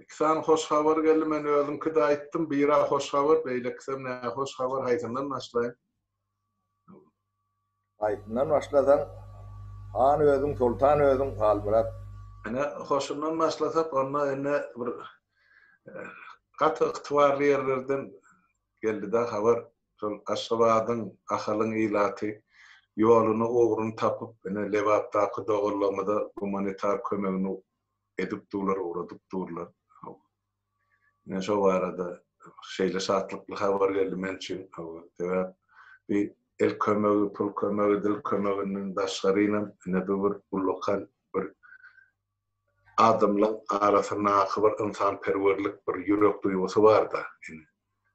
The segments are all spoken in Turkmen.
Iki sany hoş habar geldi. Men özümki-de aýtdym. Biri-ä hoş habar, beýlekisem nähoş habar. Haýsyndan başlaýyn? Haýsyndan başlasaň, han özüň, soltan özüň, Halmyrat. Ine, hoşundan başlasak, onda indi bir gaty ygtybarly ýerlerden geldi-dä habar. Şol Aşgabadyň, Ahalyň ilaty ýoluny, ugruny tapyp, ine, Lebapdaky doganlarymyza gumanitar kömegini edip durlar, ugradyp durlar. Ine şo barada şeýle şatlykly habar geldi men üçin. Sebäp bi el kömegi, pul kömegi, dil kömeginden daşgarynam ine bu bir ullakan bir adamlaryň arasyndaky bir ynsanperwerlik, bir ýürek duýgusy bar-da. Ine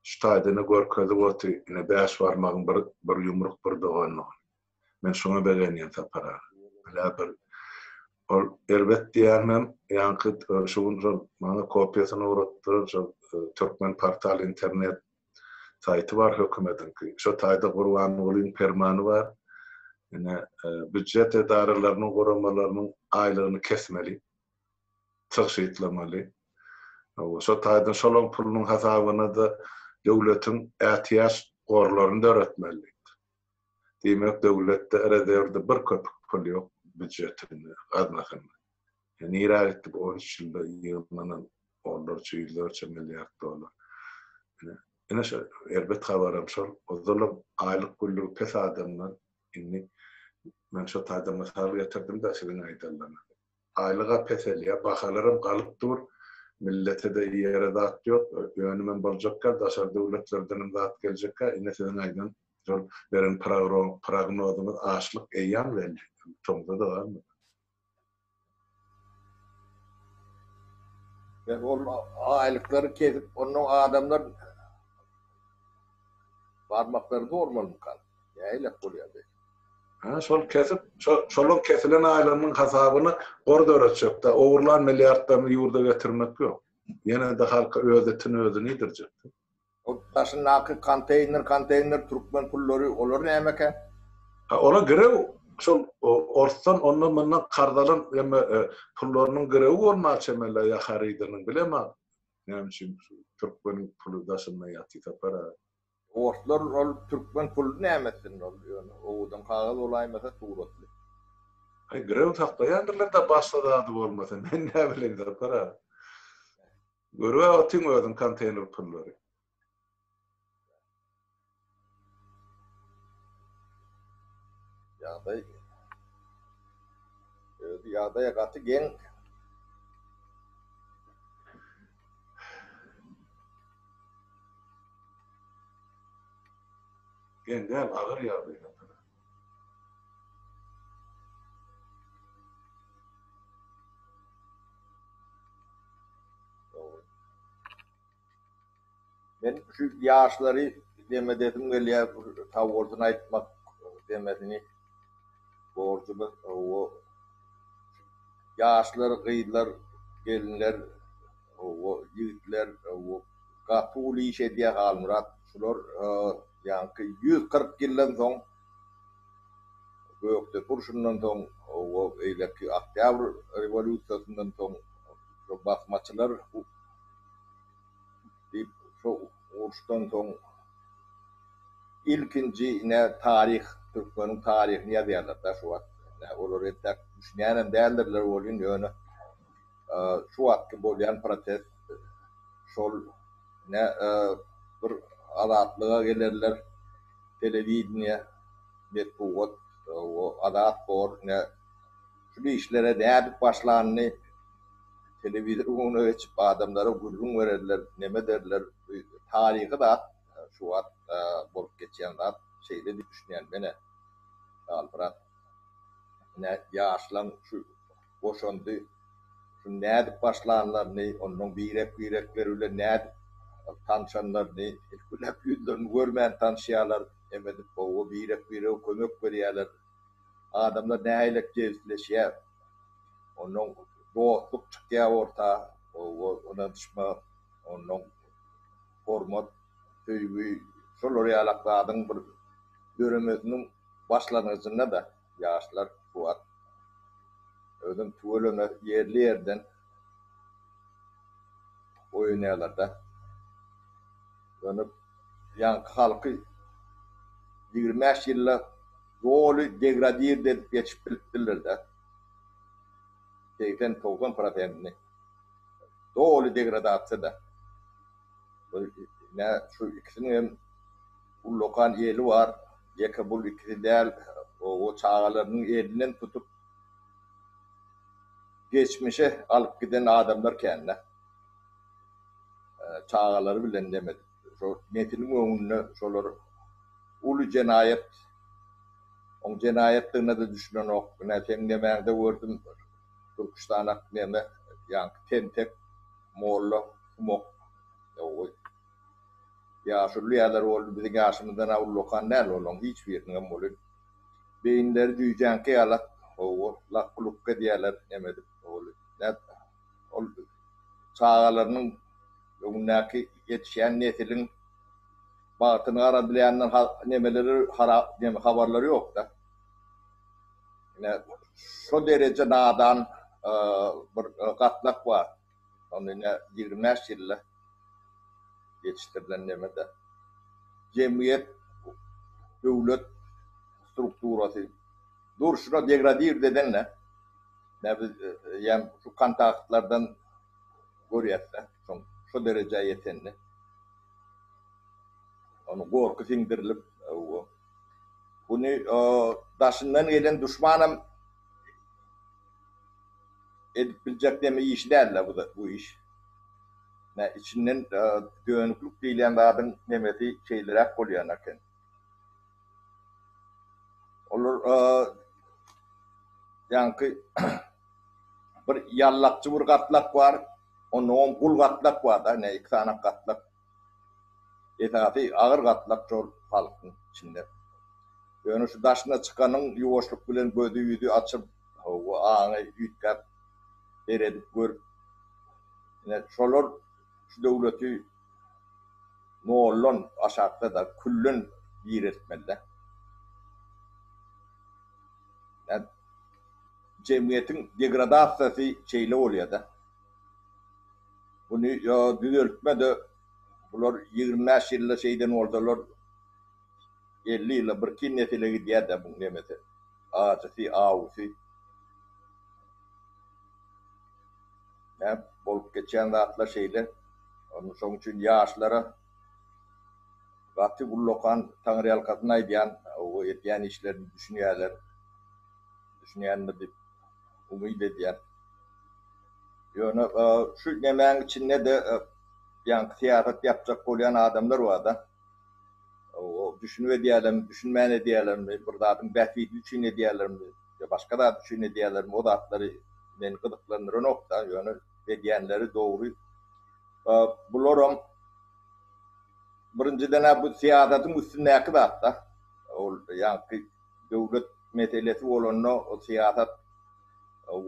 şu taýdan-a görkezip otyr. Ine bäş barmagyň bir ýumruk, bir doganlygy. Men şuňa begenýän Sapar aga. Bilä bir ol erbet diýýänmem, ýaňky şu gün şol maňa kopiýasyny ugratdylar, şol Türkmen portal internet saýty bar hökümetiňki. Şo taýda Gurbangulyň permany bar. Ine, býujet edaralarynyň, guramalarynyň aýlygyny kesmeli, tygşytlamaly. Hawa, şo taýdan şolaň pulunyň hasabyna-da döwletiň ätiýaç gorlaryny döretmeli. Diýmek döwletde rezerwde bir köpük pul ýok býujetinde, gaznasynda. Nirä gitdi bu on üç ýylda ýygnanan onlarça, ýüzlerçe milliard dollar. Ine şo erbet habaram şol. Ozalam aýlyk günlügi pes adamlar indi men şo taýdan mysal getirdim-de siziň aýdanlaryňyzy. Aýlyga peselýär, bahalaram galyp dur. Milletede iýere zat ýok. Önümem boljakka, daşary döwletlerdenem zat geljekka. Ine siziň aýdan şol beren prognozyňyz açlyk eýýam geldi. Tomza-da galmady. Ýa ol aýlyklary kesip, onnoň adamlar barmaklary zor bolmukam. Nähilek bolýar beýdip? Hä, şol kesip, şo-şolaň kesilen aýlarynyň hasabyny gor döretjek-dä, ogurlan milliardlaryny ýurda getirmek ýok. Ýene-de halka öz itini özi nidirjek-dä. Ol daşyndaky konteýner, konteýner türkmen pullary, olar nämekä? Hä, ola girew şol orsdan, ondan-mundan karz alan ýa-me pullarynyň girewi bolmaly çemeli-ä ýa harydynyň, bilem-ä näme üçin şu türkmeniň puly daşynda ýaty tapar-a. Orslar ol türkmen pulyny näme etsin ol ýöne owadan kagyz bolaýmasa suratly. Aý birew saklaýandyrlar da başga zady bolmasa men näbileýin Sapar aga. Görüp otyň özüň konteýner pullary. Ýagdaý özi ýagdaý gaty geň. Geň däl, agyr ýagdaýdadyr. Men şu ýaşlary dem edesim gelýär, bir savoldyny aýtmak demesini borjumyz owo. Ýaşlar, gyzlar, gelinler, owo, ýigitler, owo, gaty uly iş edýär Halmyrat. Şular ýaňky ýüz kyrk ýyldan soň, Gökdepe urşundan soň, owo, beýleki Oktýabr rewolýusiýasyndan soň şu basmaçylar, Diýip, şo uruşdan soň ilkinji ine taryh, türkmeniň taryhyny ýazýarlar-da şu wagt. Ine, olar entäk düşünýänem däldirler welin, ýöne şu wagtky bolýan protest şol. Ine, bir Azatlyga gelerler, telewideniýe, metbugat, o, azat bor, ine. Şul işlere nädip başlanyny telewizor göwne geçip adamlara gürrüň bererler, neme ederler. Bu taryhy zat, şu wagt bolup geçýän zat. Şeýle diýip düşünýän menä. Halmyrat ine ýaşlaň şu goşandy şuny nädip başlanlaryny, ondan birek-birekleri bilen nädip tanşanlaryny, ilki bilen ýüzlerini görmän tanşýarlar. Neme edip gowy birek-birege kömek berýärler. Adamlar nähilek jebisleşýär. Onnoň dostluk çykýar orta, ynanyşma, onnoň hormat, söýgi, şolar ýalak zadyň bir döremesiniň başlangyjynda-da ýaşlar kuwwat, özem tüweleme ýerli-ýerden oýunýarlar-da. Ýöne. Ýaňky halky ýigrimi bäş ýylda doly degradirde edip geçip bilipdirler-dä. Segsen, togsan prosentini doly degradasiýada. Ine, şu ikisiniň hem ullakan eli bar. Ýeke bul ikisi däl, o çagalarynyň elinden tutup geçmişe alyp giden adamlar kän-dä. Çagalary bilen neme edip şo nesiliň öňünde şolar uly jenaýat. Oň jenaýatdygyna-da düşünenok. Ine seň nemäňde gördüm Türküstanak neme ýaňky tentek molla kumok. Ýow-oý. Ýaşuly ýalar boldy biziň ýaşymyzdan-a ullakan däl olaň hiç biriniňem welin beýinleri jüýjäňki ýalak. Hawa lak-lukk edýäler neme edip welin nätjek. ol çagalarynyň, öňündäki ýetişýän nesiliň bagtyny garadylaýandan nemeleri habarlary ýok-da. Ine, şo dereje nadan bir gatlak bar. Ony ine ýigrimi bäş ýylda ýetişdirilen neme-de. Jemgyýet, döwlet strukturasy. Durşuna degradir deseňle ne biz ýem şu kontaktlardan görýäsde şoň şo derejä ýetenini. Ony gorky siňdirilip o buny o daşyndan gelen duşmanam edip biljek deme işi dälde bu bu iş. Nä içinden dönüklik diýilýän zadyň nemesi şeýleräk bolýan eken. Olar ýaňky bir ýallakçy bir gatlak bar. Onnoň gul gatlak bar-da, ine iki sany gatlak. Esasy agyr gatlak şol halkyň içinde. Ýöne şu daşyna çykanyň ýuwaşlyk bilen gözi-ýüzi açyp, hawa, aňy üýtgäp, seredip görüp, ine şolar şu döwleti, Noldan aşakda-da külden gireltmeli-dä. Jemgyýetiň degradasiýasy şeýle bolýa-da. Buny ýa düzeltme-de, bular ýigrimi bäş ýylda şeýden bolsalar, elli ýylda birki nesile gidýä-dä bu nemesi, ajysy, awusy. Näp bolup geçýän zatlar şeýle. Onda şoň üçin ýaşlara gaty ullakan taňryýalkasyn aýdýan we etýän işlerini düşünýärler. Düşünýändir diýip umyt edýän. Ýöne şu nemäň içinde-de ýaňky syýasat ýapjak bolýan adamlar barda. Düşünip edýärlermi, düşünmän edýärlermi, bir zadyň bähbidi üçin edýärlermi? ýa başga zat üçin edýänlermi o zatlary meni gyzyklandyranokda, ýöne edýänleri dogry. Bularam birinjiden-ä bu syýasatyň üstündäki zatda. Ol ýaňky döwlet meselesi bolanda o syýasat ol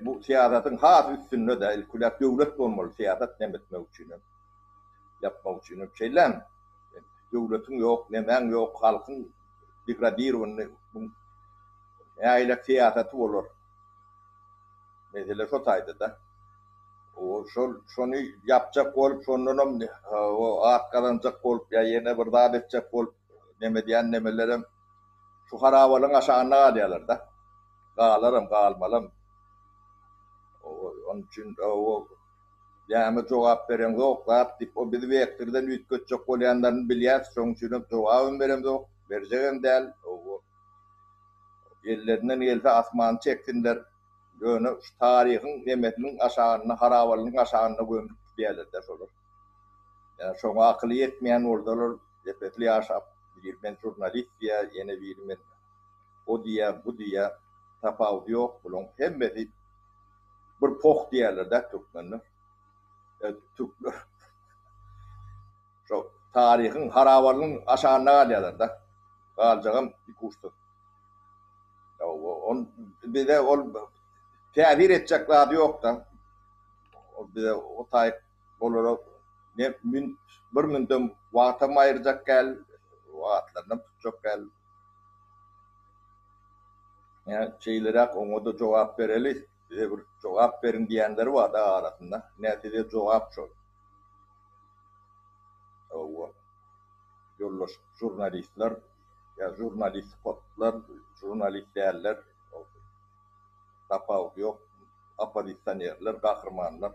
bu syýasatyň has üstünde-de ilki bilen döwlet bolmaly syýasat näme etmek üçinem, ýapmak üçinem şeýlemi? Döwletiň ýok, nemäň ýok, halkyň degradirowany bu nägilä syýasaty bolar? Mesele şo taýda-da. Şol şony ýapjak bolup, şondanam at gazanjak bolup ýa ýene bir zat etjek bolup nem edýän nemelerem şu harabalygyň aşagynda galýarlar-da. Galaram, galmalam. Onuň üçin Näme jogap bereňzok zat diýip o bizi wektirden üýtgetjek bolýanlaryny bilýäs şoň üçinem jogabam beremzok berjegem däl owo ellerinden gelse asmany çeksinler ýöne şu taryhyň nemesiniň aşagynda harabalygyň aşagynda gömlüp gidýälerde şolar ýa şoňa akyly ýetmeýän bolsalar depesli ýaşap biri men žurnalist diýýä ýene biri men o diýýä bu diýýä tapawudy ýok bulaň hemmesi Bir poh diýerler-dä türkmenler. E, türkler şo taryhyň harabalygyň aşagynda galýarlar-da. Galjagam ikuçsyz. Bize ol täsir etjek zady ýok-da. Ol bize o taýy. Olara ne mün, bir mündem wagtam aýyrjak gäl, wagtlarynam tutjak gäl. Ýa şeýleräk oňa-da jogap bereli, bize bir jogap beriň diýenleri bar-da arasynda. Ine, size jogap şol. Hawa, ýoldaş žurnalistler, ýa žurnalistpotlar, žurnalist däller. tapawudy ýok. Oppozisionerler, gahrymanlar.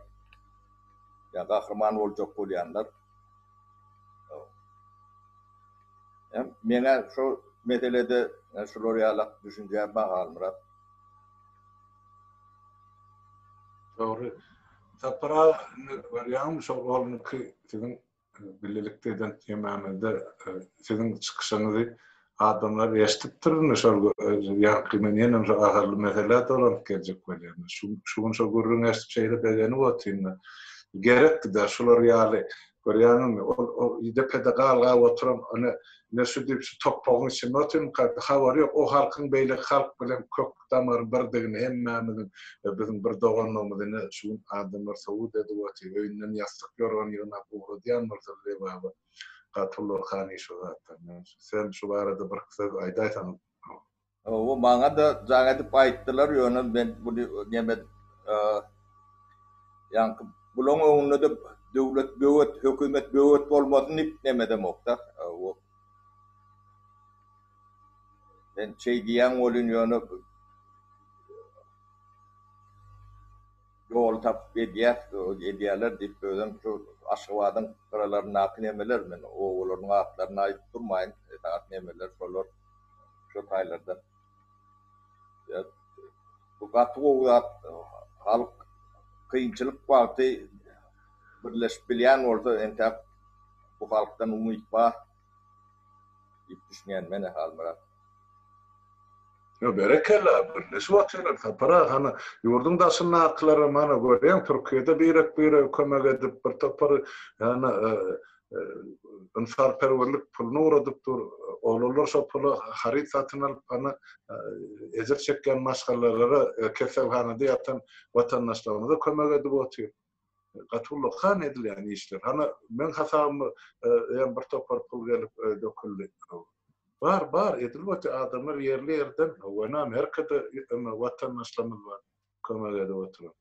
Ýa gahryman boljak bolýanlar. Hem meňä şu meselede şular ýalak düşünje bar Halmyrat. Dogry. Sapar aga indi görýäňmi şol onuňky siziň Birlikde eden ýememizde siziň çykyşyňyzy adamlar eşdipdir indi şol ýaňky men ýenem şo ahally meselä dolanyp geljek bolýan. Şu şu gün şo gürrüň eşdip şeýle begenip otyryn. Gerekdi-de şular ýaly görýäňizmi? Ol depede galgap oturan ony Ine şu diýip şu topbagyň içinde oturyň kaka, habary ýok, o halkyň beýleki halk bilen kök damary birdigini hemmämiziň we biziň bir doganlygymyz ine şu gün adamlar sowut edip otyr, öýünden ýassyk ýorgan ýygnap ugradýan bolsa Lebaba Gapurlar han iş o zatlar. Sen şu barada birki söz aýdaýsaň. Hawa, maňa-da jaň edip aýtdylar, ýöne men muny nemen ýaňky bulaň öňünde-de döwlet böwet, hökümet böwet bolmasyn diýip nemedemok-da. Hawa. Men şeý diýýän welin, ýöne ýol tapyp edýäs, edýärler diýip özem şu Aşgabadyň gyralaryndaky nemeler, men obalaryň atlaryny aýdyp durmaýyn, esasan nemeler şolar. Şo taýlarda bu gaty gowy zat. Halk kynçylyk wagty birleşip bilýän bolsa entäk bu halkdan umyt bar diýip düşünýän men Halmyrat. Berekella, birleşip otylar Sapar aga, hany ýurduň daşyndakylaram hany görýäň Türkiýede birek-birege kömek edip bir topar hany ynsanperwerlik puluna ugradypdyr. Oglanlar şo pula haryt satyn alyp, ana, ejir çekýän maşgalalara, keselhanada ýatan watandaşlarymyza kömek edip otyr. Gaty ullakan edilýän işler. Hany, meň hasabyma hem bir topar pul gelip döküldi. Bar, bar, edilip otyr. Adamlar ýerli-ýerden, Wenan, Erkede watandaşlarymyz bar kömek edip oturan.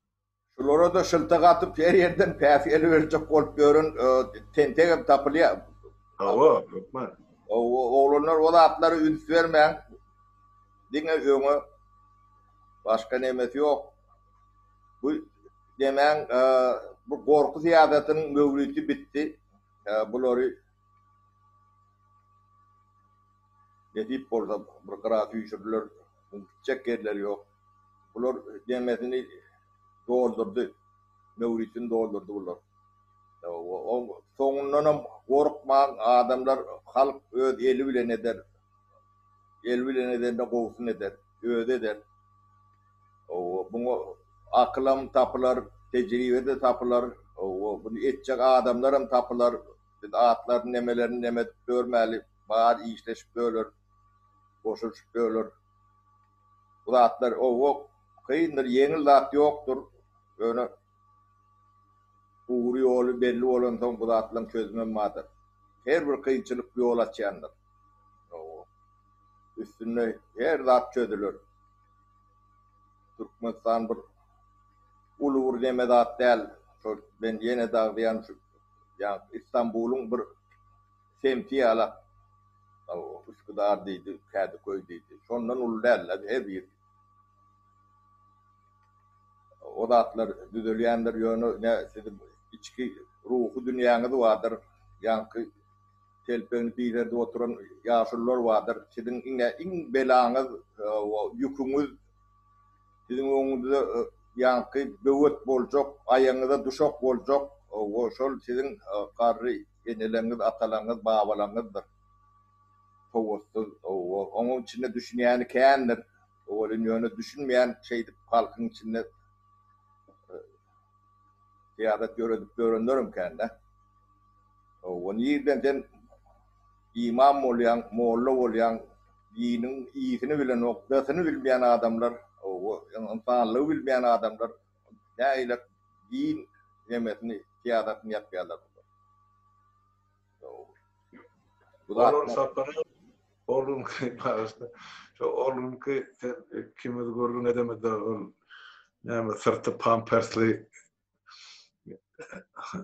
Şulara-da şylta gatyp, her ýerden päs eliberjek bolup ýören tentegem tapylýar. Hawa, hökman. Oglanlar, o zatlary üns bermäň. Diňe öňe. Başga nemesi ýok. Bu nemäň, bu gorky syýasatynyň möwriti bitdi. Bulary nesip bolsa bir gyra süýşürler. Gitjek ýerleri ýok. Bular deňesini doldurdy. Möwritini doldurdy bular. Oň soňundanam gorkmaň, adamlar, halk öz eli bilen eder. El bilen edende gowusyny eder. Özi eder. Hawa, muňa akylam tapylar, tejribe-de tapylar. Hawa, muny etjek adamlaram tapylar. Biz atlaryny, nemelerini neme edip ýörmäli. Bary işleşip ýörler. Goşulyşyp ýörler. Bu zatlar owo kyndyr, ýeňil zat ýokdur. Ýöne ugry ýoly belli bolansoň bu zatlaryň çözümem bardyr. Her bir kynçylyk ýol açýandyr. Owo. Üstünde her zat çözüler. Türkmenistan bir uly bir neme zat däl. Şol men ýene-de agzaýan şu ýa Istanbulyň bir Semti ýalak. Üsküdar diýdi, Kädiköý diýdi. Şondan uly däldi-de her ýeri. O zatlar düzelýändir, ýöne ne siziň içki ruhy dünýäňiz bardyr, ýaňky telpegini diýzerdip oturan ýaşulular bardyr. Siziň iňňe iň belaňyz, ýüküňiz siziň öňüňizde ýaňky böwet boljak, aýagyňyza duşak boljak, o şol siziň garry. Eneleňňiz, atalaňňyz, babalaňňyzdyr. Sowatsyz, owol, oňuň içinde düşünýäni kändir, welin ýöne düşünmeýän şeýdip halkyň içinde syýasat ýöredip ýörenlerem kän-dä. Owol, nirden sen imam bolýaň, molla bolýaň, diniň i-sini bilenok, d-sini bilmeýän adamlar, owol, ynsanlygy bilmeýän adamlar Nägilek din nemesini syýasatyny ýapýarlar bular. Olar sapara orlunky bagyşla şo orlunky sen ikimiz gürrüň edemizde ol näme syrty pampersli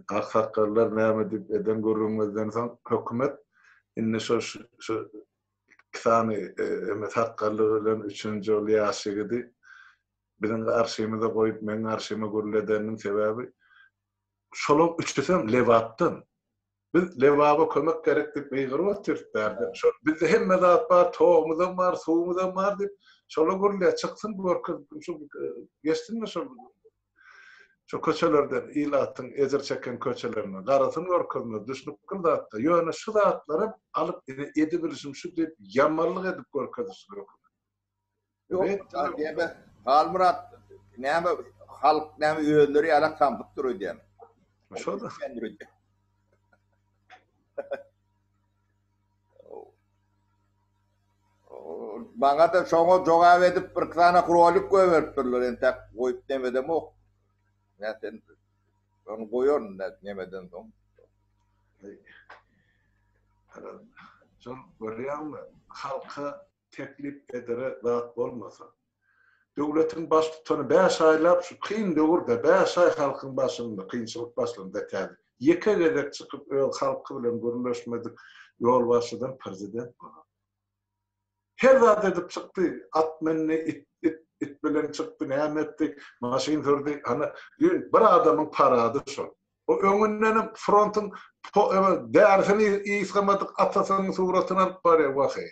aksakgallar näme diýip eden gürrüňimizden soň hökümet indi şo şu iki sany sakgally bilen üçünji ol ýaş ýigidi biziň garşymyza goýup, meň garşyma gürledeniniň sebäbi, şolaň üçüsem Lebapdan. Biz Lebaba kömek gerek diýip gygyryp otyrys bärde. Şol bizde hemme zat bar, togumyzam bar, suwumyzam bar diýip, şola gürle, çyksyn görkez, şu geçsinmi şol şu köçelerden, ilatyň ejir çeken köçelerinden, garasyn görkezmez, düşnükli zat-da. Ýöne şu zatlaram alyp, ine, edibilişim şu diýip, ýamanlyk edip görkezişleri hökman. Ýok, Adebe, Halmyrat, näme halk näme özleri ýalak samsyk dur öýdýän. Şo-da. Maňa-da şoňa jogap edip bir sany rolik goýberipdirler, entäk goýup nemedemok. Nätse indi. Ony goýaryn nemeden soň. Şol görýäňmi, halka teklip edere zat bolmasa. Döwletiň baştutany bäş aýlap şu kyn döwürde bäş aý halkyň başynda kynçylyk başlanda täze ýeke gezek çykyp öz halky bilen gürleşmedik ýolbaşçydan prezident bolar. Her zat edip çykdy, at mündi, it it it bilen çykdy näme etdi, maşyn sürdi, ana düýn bir adamyň parady şol. O öňündenem frontuň därisini ysgamadyk atasynyň suratyny alyp barýar, waheý.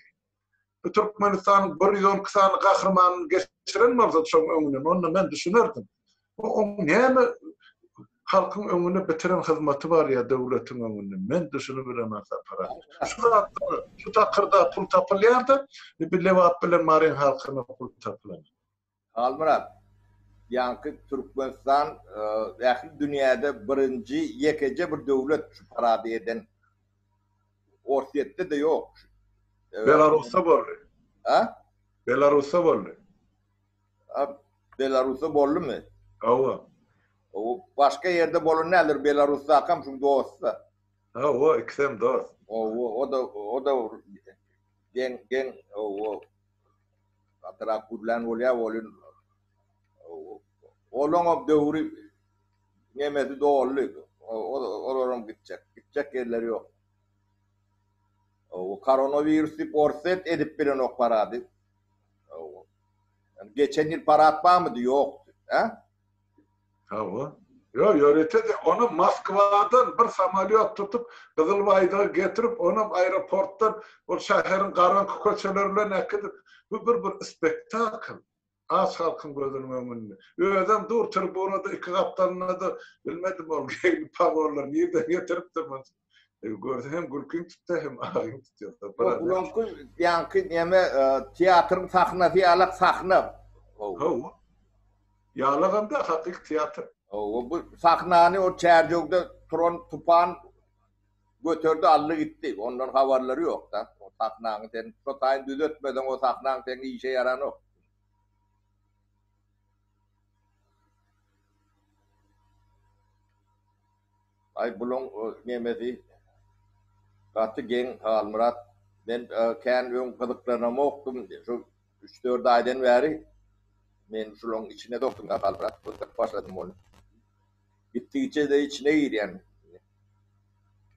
Bu Türkmenistanyň bir ýüz on iki sany gahrymanyny geçiren bolsady şoň öňünden, onda men düşünerdim. Oň näme halkyň öňünde bitiren hyzmaty bar ýa döwletiň öňünde, men düşünibileman Sapar aga. Şu zatlar, şu takyrda pul tapylýar-da, bir Lebap bilen Maryň halkyna pul tapylanok. Halmyrat, ýaňky Türkmenistan ähli dünýäde birinji ýekeje bir döwlet şu parady eden. Orsýetde-de ýok. Belarusda boldy. A? Belarusda boldy. A, Belarusda boldumy? Hawa. Hawa, başga ýerde bolan däldir, Belarusdakam şuň dost-da. Hawa, ikisem dost. Hawa, o-da, o-da geň, geň, hawa. Gatyrak gürlän bolýar ol in Olaň o döwri nemesi doldy. Olaram gitjek. Gitjek ýerleri ýok. Hawa, koronawirus diýip orsýet edip bilenok parady. Hawa. Geçen ýyl parat barmydy? Ýokdy. Hä? Hawa. Ýok, ýörite de, ony Moskwadan bir samolýot tutup, Gyzyl Baýdaga getirip, onam aeroportdan ol şäheriň garaňky köçeleri bilen äkidip, bu bir bir spektakl, aç halkyň gözüniň öňünde. Özem dur tribunada iki gapdalyna-da, bilmedim ol geýimli pogony nirden getiripdir muny. Görse hem gülkiň tutsa hem agyň tutýar. Ulan kul ýaňky näme e, teatryň sahnasy ýalak sahna. Hawa. Ýalagam-da hakyky teatr. Hawa, bu sahnany o çärjewde turan tupan göterdi, aldy gitdi. Ondan habarlary ýok-da. O sahnany sen şu taýyn düzetmeseň, o sahnaň seň işe ýaranok. Aý bulaň nemesi gaty geň Halmyrat men kän öň gyzyklanamokdym şu üç dört aýdan bäri men şulaň içine dokdumda Halmyrat gyzykyp başladym ony gitdigiçede içine girýän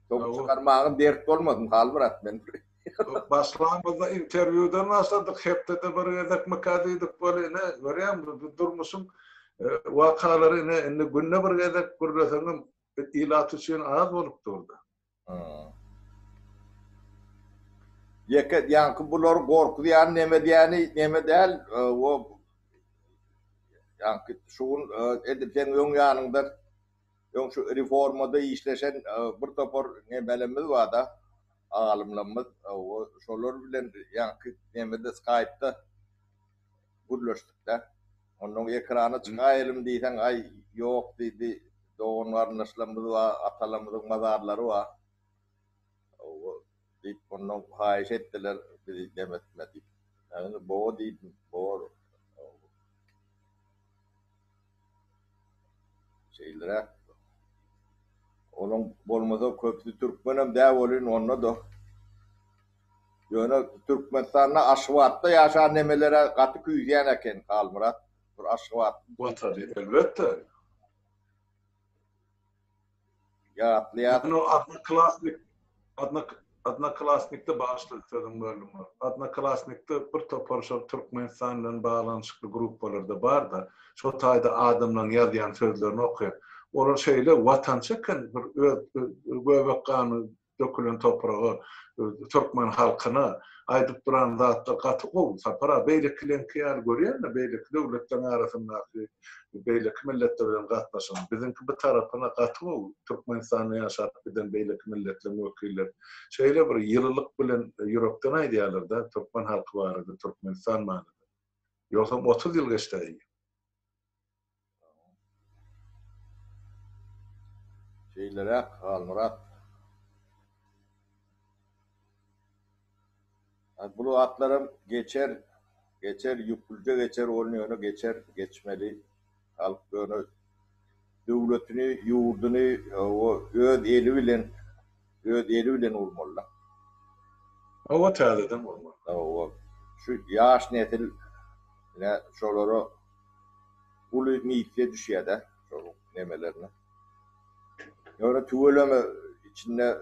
soň çykarmaga dert bolmasyn Halmyrat men. Başlanymyzda interwýudan başladyk, hepdede bir gezekmika diýdik, bol ine, görýäň, bu durmuşyň wakalary ine, indi günde bir gezek gürleseňem ilat üçin az bolup dur-da. Ýeke, ýaňky bulary gorkuzýan neme diýeni, neme däl, o, ýaňky şu gün edil seň öň ýanyňda Öň şu reformada işleşen bir topar nemelerimiz barda, alymlarymyz. Şolar bilen ýaňky nemede, skaýpda gürleşdik-dä. Onnoň ekrana çykaýelim diýseň, aý, ýok diýdi. Dogan-garyndaşlarymyz bar, atalarymyzyň mazarlary bar. Hawa, diýip, mundan haýyş etdiler bizi dem etme diýip. Men indi bowa diýdim. Bor. Şeýleräk. Olaň bolmasa köpüsi türkmenem däl welin onda-da. Ýöne Türkmenistanda Aşgabatda ýaşan nemelere gaty küýseýän eken Halmyrat. Bir Aşgabat. Watany elbetde. Ýatlaýar. Ýöne Odnoklasnik, Odnok, Odnoklasnikde, bagyşla, sözüňi böldüm, bar. Odnoklasnikde bir topar şol Türkmenistan bilen baglanyşykly gruppalarda bar-da, şol taýda adamlaryň ýazýan sözlerini okaýan. Olar şeýle watançy eken, bir öz göbek gany dökülen topraga türkmen halkyna aýdyp duran zatlar gaty gowy Sapar aga beýlekileňki ýaly görýänmi beýleki döwletleriň arasyndaky beýleki milletler bilen gatnaşygyny biziňki bu tarapyna gaty gowy Türkmenistanda ýaşap giden beýleki milletleriň wekilleri şeýle bir ýylylyk bilen ýürekden aýdýarlarda türkmen halky barada Türkmenistan barada ýogsam otuz ýyl geçdi aýy. Şeýleräk, Halmyrat. Hany bu zatlaram geçer, geçer, ýüplüje geçer, ol ýöne geçer, geçmeli. Halk ýöne döwletini, ýurduny öz eli bilen. Öz eli bilen urmalyda. Hawa täzeden gurmaly. Hawa. Şu ýaş nesil ne şolara uly missiýa düşýädä şol nemelerine. Ýöne tüweleme içinde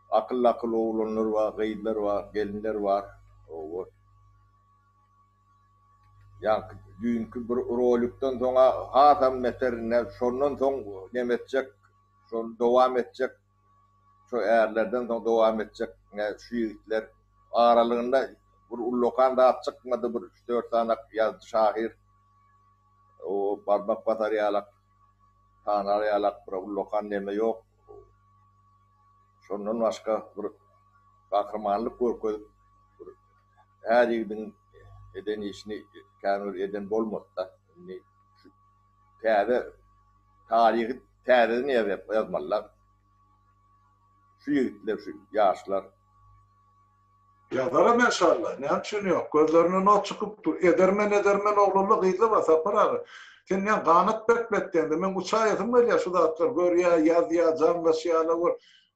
akyl-akyl oglanlar bar, gyzlar bar, gelinler bar. Hawa. Ýaňky düýnki bir rolikden soň hasam neter şondan soň neme etjek şony dowam etjek şo ärlerden soň dowam etjek ne şu ýigitler aralygynda bir ullakan zat çykmady bir üç dört sanak ýazdy şahyr o barmak basar ýalak tanar ýalak bir ullakan neme ýok şondan başga bir gahrymanlyk görkezip bir Her ýigdiň eden işini kän bir eden bolmazda. Indi şu täze taryhy täzeden ýazýar, ýazmalylar. Şu ýigitler, şu ýaşlar. Ýazaram enşalla, näme üçin ýok. Gözlerinden ot çykyp dur. Edermen, edermen oglanla gyzla bar, Sapar aga. Sen näme ganat berkmetdeňde, meň uçaýasym gelýär şu zatlary görýä, ýazýa, jaňlaşýa-la bir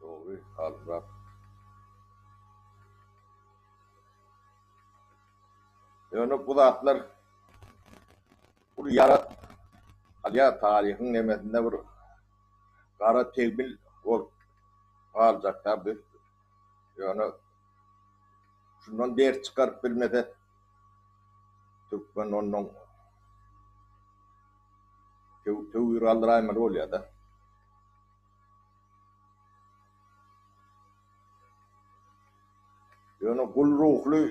Dogry Halmyrat. Ýöne bu zatlar uly ýara salýar, taryhyň nemesinde bir gara tegmil bolup galjakda biz ýöne şundan ders çykaryp bilmesek. Türkmen onnoň töw-töwi galdyraýmaly bolýar-da. Ýöne gul ruhly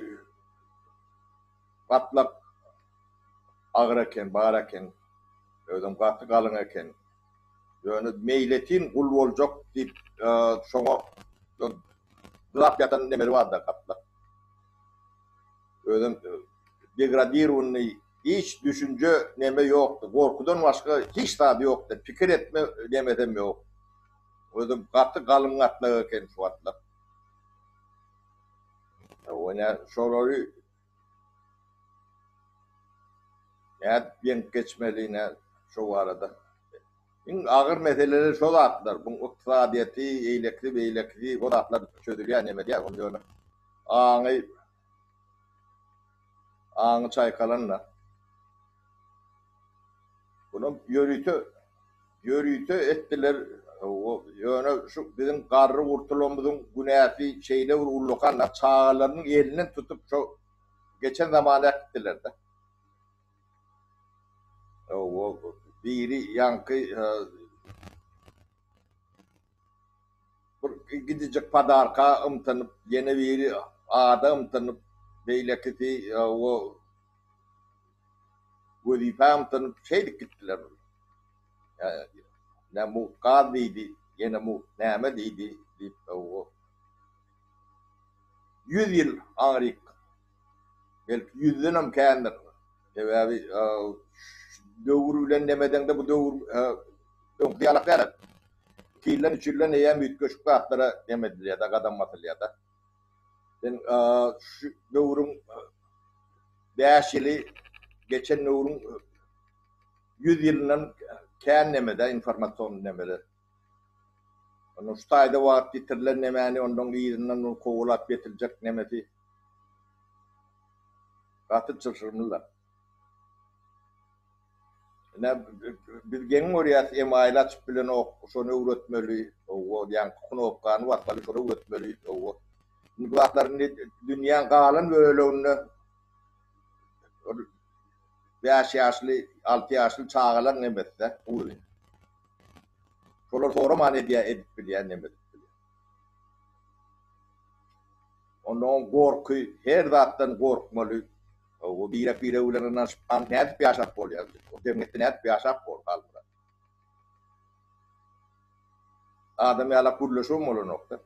gatlak agyr eken, bar eken. Özem gaty galyň eken. Ýöne meýletin gul boljak diýip, şoňa dyrap ýatan nemesi bar-da gatlak. Özem degradirowanyny hiç düşünje neme ýokdy, gorkudan başga hiç zady ýokdy, pikir etme nemesem ýok. Özem gaty galyň gatlag eken şu wagtlar. Hawa nä şolary nädip ýeňip geçmeli nä şo barada. Iň agyr meseleler şo zatlar, buň ykdysadyýeti, eýlekisi, beýlekisi, o zatlar çözülýär, neme diýýär, ony ýöne aňy, aňy çaýkalan-da. Bulam ýörite, ýörite etdiler, ýöne şu biziň garry gurtulamyzyň günäsi şeýle bir ullakan-da, çagalarynyň elinden tutup şo geçen zamana äkitdiler-de. Biri ýaňky bir gidijek padarka ymtynyp, ýene biri ada ymtynyp, beýlekisi wezipä ymtynyp, şeýdip gitdiler. Nä mugt gaz diýdi, ýene mugt näme diýdi diýip, ýüz ýyl aňryk. Belki ýüzdenem kändir. Sebäbi döwür bilen nemedeňde bu döwür öňküsi ýalak däl. Iki ýyldan, üç ýyldan eýýäm üýtgeşik zatlara neme edilýär-de, gadam basylýar-da. Sen şu döwrüň bäş ýyly geçen döwrüň ýüz ýylyndan kän neme-de, informasion nemeler. Onda şu taýda wagt ýitirilen nemäni ondan yzyndan ol kowalap getirjek nemesi gaty çylşyrymlyda. Ine biz geň görýäs email açyp bilenok şony öwretmeli owo ýaňky knopkany basmaly şony öwretmeli owo. Indi bu zatlar indi dünýäň galan böleginde ol bäş ýaşly, alty ýaşly çagalaň nemesde ugryn. Şolar soraman edýär, edip bilýär, neme edip bilýär. Onda oň gorky, her zatdan gorkmaly, o birek-biregi bilen ynanyşyp aň nädip ýaşap bolýar, o jemgyýetde nädip ýaşap bol, Halmyrat? Adam ýalak gürleşigem bolanok-da.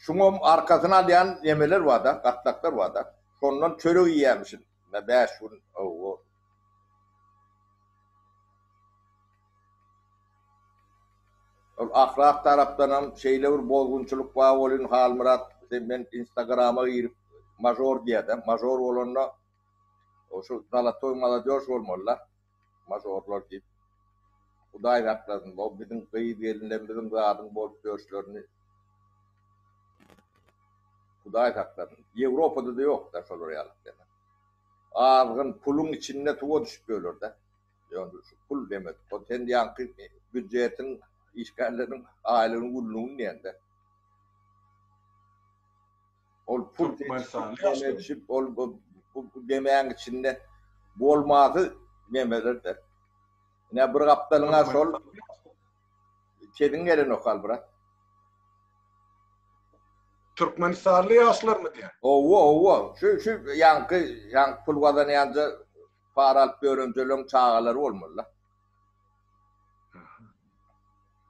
Şuňam arkasyny alýan nemeler barda, gatlaklar barda. Şondan çörek iýýämişin men bäş gün. Ol ahlak tarapdanam şeýle bir bozgunçylyk bar welin Halmyrat sen men instagrama girip mažor diýýädä, mažor bolanda şu zalatoý maladýoş bolmalyda. majorlar diýip Hudaý saklasyn bu biziň gyz gelinlerimiziň zadyň bolup ýörşlerini Hudaý saklasyn Ýewropadada ýokda şolar ýaly deme azgyn puluň içinde suwa düşüp ýörlerde ýöne şu pul demek bu sen diýýänki býudjetiň işgärleriň aýlygyny günlügini diýende. Ol pul deňeşip, ol bu demäň içinde bolmazy nemelerdir. Ine, bir gapdalyňa şol sesiň gelenok, Albrat. Türkmenistanly ýaşlarmy diýýän? Owo, owo. Şu, şu ýaňky, ýaňky pul gazanýanja para alyp ýörenjeleriň çagalary bolmaly-da.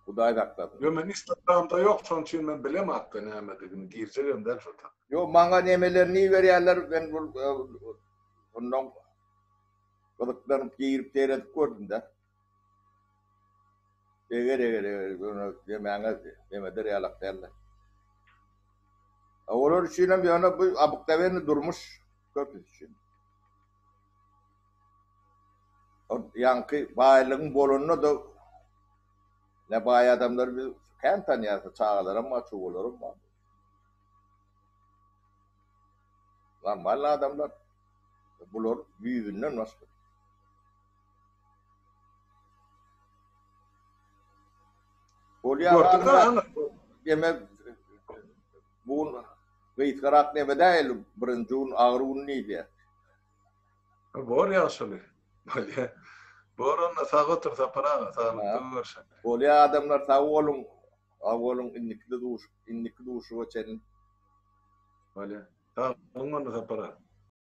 Hudaý saklasyn. Yo men instagramda yok şon üçin men bilem hatda nämedigini girjegem däl şo tak. Yo maňa nemelerini iberýärler men bul bundan gyzyklanyp girip seredip gördümdä. Eger eger eger ýöne demäňe demeder ýalak dälde. Olar üçinem ýöne bu abykdabenli durmuş köpüs üçin. Ýaňky baýlygyň bolanda-da ne baý adamlary biz kän tanýarys, çagalaram bar, çuwalaram bar. Normalny adamlar. Bular ýüzünden başga. Bolýar. Demek, Bu gün gysgarak neme däl birinji gün agyr gün diýilýä. Bor ýagşyly. Bolýa. Bor onda sag otur Sapar aga saglykda görşelik. Bolýa adamlar sag boluň sag boluň indikide duşup indiki duşuba çenli. Bolýa. Sag boluň onda Sapar aga.